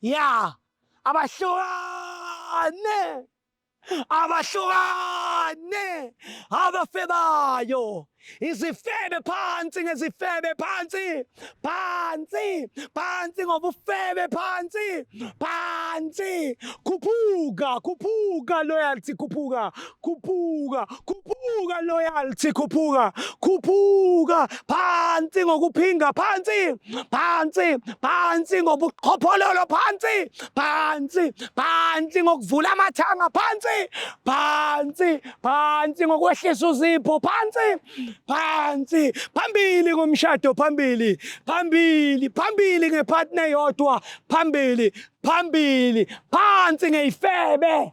ya abahlukane abahlukane abafebayo izifebe phansi ngezifebe phansi phansi phansi ngobufebe phansi phansi khuphuka khuphuka loyalty khuphuka khuphuka khuphuka loyalty khuphuka khuphuka phansi ngokuphinga phansi phansi phansi ngobuqhophololo phansi phansi phansi ngokuvula amathanga phansi phansi phansi ngokwehlisa uzipho phansi phansi phambili ngomshado phambili phambili phambili ngepartner yodwa phambili phambili phansi ngeyifebe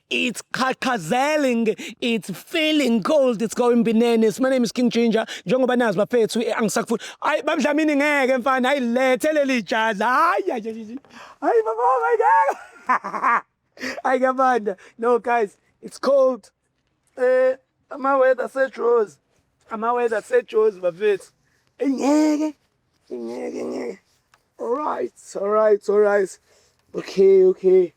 It's qhaqhazeling, it's feeling cold, it's going binene. My name is King Ginger. Njengoba nazi bafethu eh, angisakufuni. Hayi bamdlamini ngeke mfana, hayi lethe leli jazi. Hayi hayi. Hayi baba ngeke. Hayi kabanda. No guys, it's cold. Eh ama weather sejozi. Ama weather sejozi bafethu. Ngeke. ngeke ngeke alright alright alright okay okay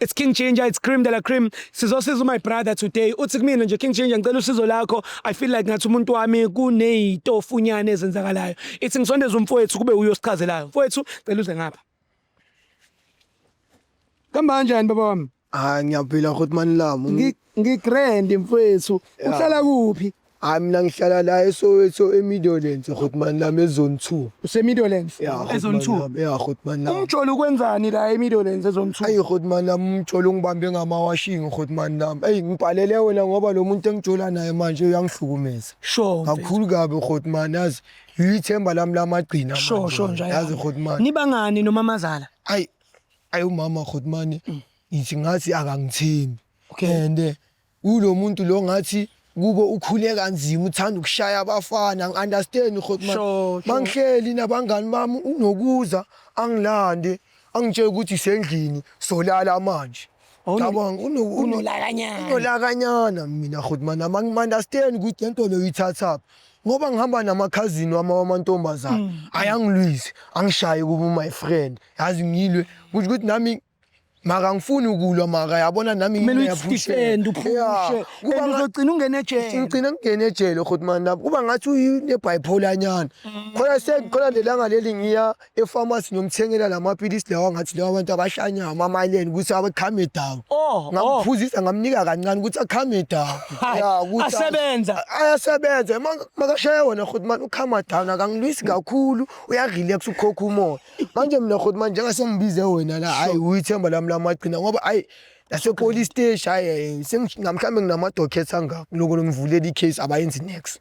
It's King Ginger, it's Cream de la Cream. Sizosiza my brother today. Uthi kumina nje King Ginger ngicela usizo lakho. I feel like ngathi umuntu wami kunezitofunyane ezenzakalayo. Ithi ngisondeza umfowethu kube uyo sichazelayo. Mfowethu cela uze ngapha. Kamba kanjani baba wami? Hayi ngiyaphila futhi mani lami. Ngi- Ngigrand mfwethu. Uhlala kuphi? Hayi mina ngihlala la eSoweto eMidlands futhi mani lami ezone 2. Usemiddlelands. Ya futhi Ezone mani 2. lami, Ya futhi mani lami. Umjolo ukwenzani la emiddlelands ezone 2? Ayi futhi mani lami umjolo ungibambe ngamawashing futhi mani lami. Ayi ngibhalele wena ngoba lo muntu engijola naye manje uyangihlukumeza. Sure. mfethu. Kakhulu kabi futhi mani yazi. Yithemba lami lamagcina. Sure manje, sure nje. Yazi futhi mani. Nibangani nomamazala? Ayi ayi umama khuthi mane mm. ngithi ngathi akangithembi and eh, ulo muntu lo ngathi kubo ukhule kanzima uthanda ukushaya abafana ngi-understand khuthi mangihleli nabangani bami unokuza angilande angitshela ukuthi sendlini solala manje unolakanyana mina khuthi mani ama-understand ukuthi le nto leyo uyithathaphi ngoba ngihamba namakhazini wami wamantombazane mm. ayangilwise angishaye kuba my friend yazi ngilwe kusho ukuthi nami maka ngifuni ukulwa maka yabona nami ngiyaphushenda uphushe kuba uzogcina ungene ejele ugcina ngene ejele khotman lapho kuba ngathi unebipolar nyana mm. khona sekhona lelanga leli ngiya efamasi ngiyomthengela la mapilisi lawa ngathi lawa abantu abashanyayo amamaleni ukuthi abakhambe down oh, oh. ngamphuzisa ngamnika kancane ukuthi akhambe down asebenza ayasebenza makashaya wona futhi manje ukhama down akangilwisi kakhulu uyarelax ukhokha umoya manje mina futhi manje njengasengibize wena la hayi uyithemba lami lamagcina ngoba hayi nasepolice station hayi eh, sengingamhlambe nginamadocket angaka lokho ngimvulela icase abayenzi next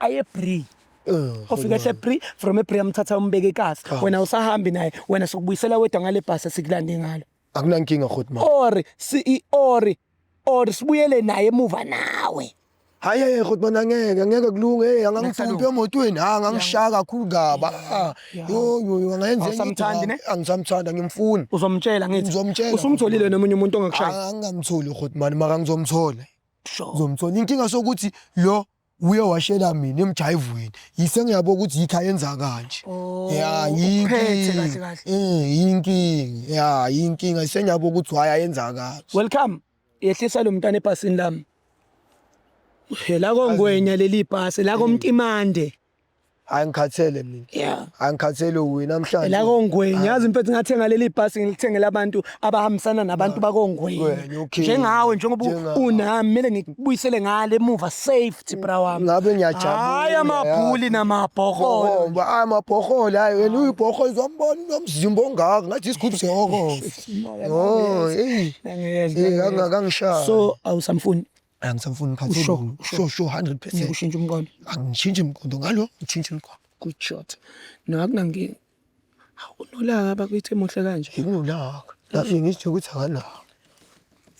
aye bri ofika ehle bri from ebri amthatha umbeke ikasi wena usahambi naye wena sokubuyisela wedwa ngale bhasi esikulande ngalo akunankinga khoti ma or si i- or or sibuyele naye emuva nawe hayi hayi khoti mana ngeke ngeke kulunge hey angangithumpi emotweni ha angangishaya kakhulu kabi ah yo yo yo angayenza enye Awusamthandi, ne? into. angisamthanda ngimfuni uzomtshela ngithi Ngizomtshela. usumtholile nomunye umuntu ongakushaya angamtholi khoti mani maka ngizomthola sure ngizomthola inkinga sokuthi lo uye washela mina emjayivweni yise ngiyabo ukuthi yikho ayenza kanje oh, ya yinkinga eh, yinkinga ya yinkinga yise ngiyabo ukuthi why ayenza kanje welcome yehlisa lo mntana ebhasini lami la kongwenya leli bhasi la komtimande hayi ngikhathele mina yeah hayi ngikhathele uwe namhlanje la kongweni yazi mfethu ngathenga leli bhasi ngilithengele abantu abahambisana nabantu bakongweni Ngwenya, okay. njengawe njengoba u- Njengawe. unami mele ngikubuyisele ngale emuva safety bra wami ngabe ngiyajabula hayi amabhuli namabhokolo Bohomba hayi amabhoholo hayi wena uyibhoholo zombona unomzimba ongaka ngathi isigubhu sehoko oh eyi Angiyezwa, Eh, angiyezwa. angangishaya so awusamfuni angisamfuni phansi Usho, uLungu. usho. sho sho 100 ngeke percent ushintshe umqondo angishintshi mqondo ngalo ngitshintshe umqondo good shot no akunankinga hawu unolaka bakwethu emuhle kanje nginolaka lapho ngisitshe ukuthi akanako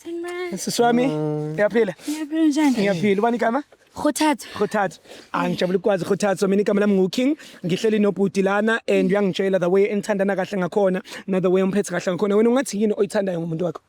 Sanibona. sisi wami ngiyaphila Niyaphila njani? ngiyaphila ubani igama Khuthatha. khothatha angijabula ukukwazi khothatha mina igama lami nguking ngihleli nobhuti lana and uyangitshela the way engithandana kahle ngakhona na the way umphethe kahle ngakhona wena ungathi yini oyithandayo ngomuntu wakho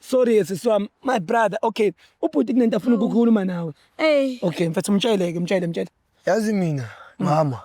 sorry ke sisi wami my brother okay ubhuti kunento afuna ukukhuluma nawe Ey, okay mfethu mtsheleke mtshele mtshele yazi mina mama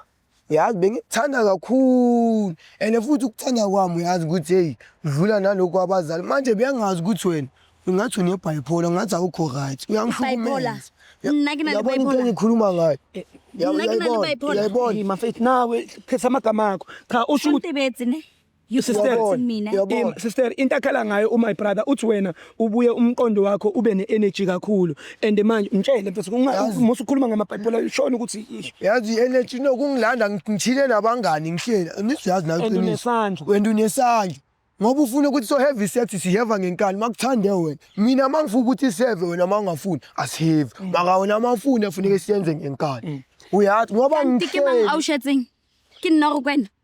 yazi bengikuthanda kakhulu and futhi ukuthanda kwami uyazi ukuthi heyi udlula nalokhu abazali manje beyangazi ukuthi wena ungathi unebhayipola ngathi awukho right Bipolar. uyangihlukumeza Mna ke nale yabona into bipolar. engikhuluma ngayo Eh, Ya- Mna ke nale uyayibona, bipolar. uyayibona Hey, mafethu nawe phetha amagama akho cha usho ukuthi Untebedzi ne. You sister, Yabona, mina. yabona. Im- sister into akhala ngayo umy brother uthi wena ubuye umqondo wakho ube ne-energy kakhulu and manje mtshele mfethu Yazi. musa ukhuluma ngamabhayibhela shona ukuthi ish, yazi i-energy no kungilanda ngi- ngithile nabangani ngihleli nisiyazi nayo And iqiniso. unesandla. wena unesandla ngoba ufuna ukuthi so-heavy sex siheva ngenkani makuthande wena mina uma ngifuna ukuthi siheve wena uma ungafuni asiheve Mm. maka wena uma ufuni afuneke siyenze ngenkani uyazi ngoba Kanti ke mang ngihleli au shetseng. Ke nna go kwena.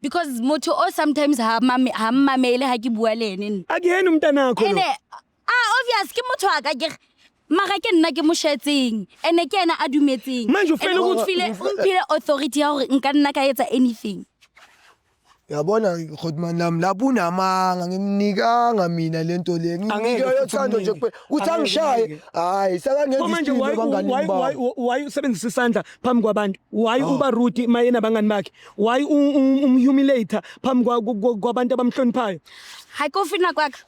because motho o sometimes ha mame ha mmamele ha ke bua le ene nna akuyena umntanakho ene lo ah obvious ke motho wa ka ke re- mara ke nna ke mo shetseng ene ke ena a dumetseng Manje o fela Ene o ukuthi- mphile- o mphile authority ya gore nka nna ka etsa anything yabona godman lam lapho unamanga ngimnikanga mina le nto le Angeke ngimnike futhi yothando nje umnike. kuphela ukuthi Angeke angishaye umnike. hayi sekangenza Pho manje isipilo why- why- why- abanganini why usebenzisa isandla phambi kwabantu why uba rude mayena abangani bakhe Why umhumulator phambi kwabantu abamhloniphayo? Hayi kofina kwakhe.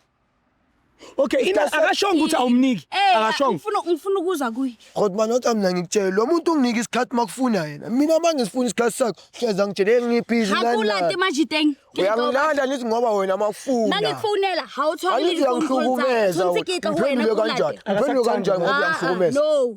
Okay, ina akashonga ukuthi awumniki. Eh, akashonga. Ngifuna ngifuna ukuza kuye. Kodwa manje uthi mina ngikutshela lo muntu unginika isikhathi makufuna yena. Mina manje ngifuna isikhathi sakho. Hleza ngitshele ngiphizi lana. Hakulande manje teng. Uyangilanda ngithi ngoba wena makufuna. Mangikufonela hawuthola izinto zami. Ngiphendule kanjani? Ngiphendule kanjani ngoba ah, ah, uyangihlukumeza? No.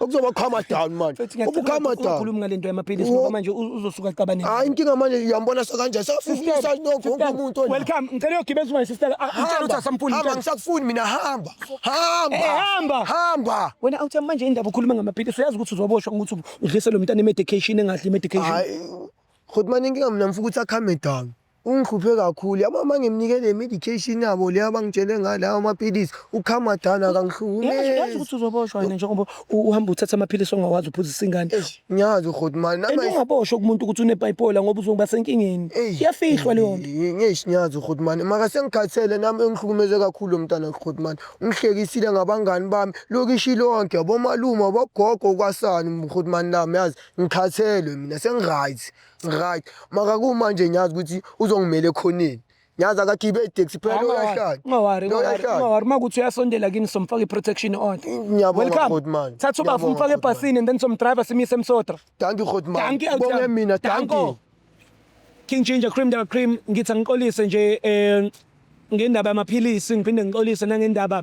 Okuzoba calm down manje. Mfethu Ubu ngiyacela calm ukuthi down. ungakhulumi ngale nto yamaphilisi Wo- ngoba manje u- uzosuka aqabane. Hayi inkinga manje uyambona sekanje safufisa nokho wonke umuntu ona. Welcome. Ngicela uyogibela uzoba sister. Ngicela ukuthi asampuli. Hamba ngisakufuni mina hamba. Hamba. Eh, hamba. Hamba. Wena awuthi manje indaba ukhuluma ngamaphilisi uyazi ukuthi uzoboshwa ngokuthi udlise lo mntana i-medication engadli i-medication. Hayi. Khot manje inkinga mina mfuku ukuthi akhambe down. Ungihluphe kakhulu yabo uma ngimnike le medication yabo le abangitshele ngayo lawo amaphilisi ukhama dana akangihlumezi ukuthi uzoboshwa yena njengoba uhamba uthatha amaphilisi ongawazi uphuzisa ingane ngiyazi ukhoti mali nami ungaboshwa kumuntu ukuthi unebipolar ngoba uzoba senkingeni iyafihlwa leyo nto ngiyazi ngiyazi ukhoti mali maka sengikhathele nami engihlukumeze kakhulu mntana ukhoti mali ungihlekisile ngabangani bami lokishi lonke abomalume abogogo kwasani ukhoti mali nami yazi ngikhathelwe mina sengiright Right. Maka kumanje ngiyazi ukuthi uzongimela ekhoneni. Ngiyazi akagibe itaxi phela Hayi, ungawari, uyahlanya. ungawari, Lo ungawari, uyahlanya. ungawari. Uma kuthi uyasondela kini somfaka i-protection order. Ngiyabonga, Welcome. Godi man. Thatha ubafu Ngiyabonga, umfake Godi man. ebhasini and then somdriver simyise emsotra. Thank you Godman. Dankie, Elton. Bonge mina, thank Danko. you. King Ginger Cream Daba Cream ngithi angixolise nje eh ngendaba yamaphilisi ngiphinde ngixolise nangendaba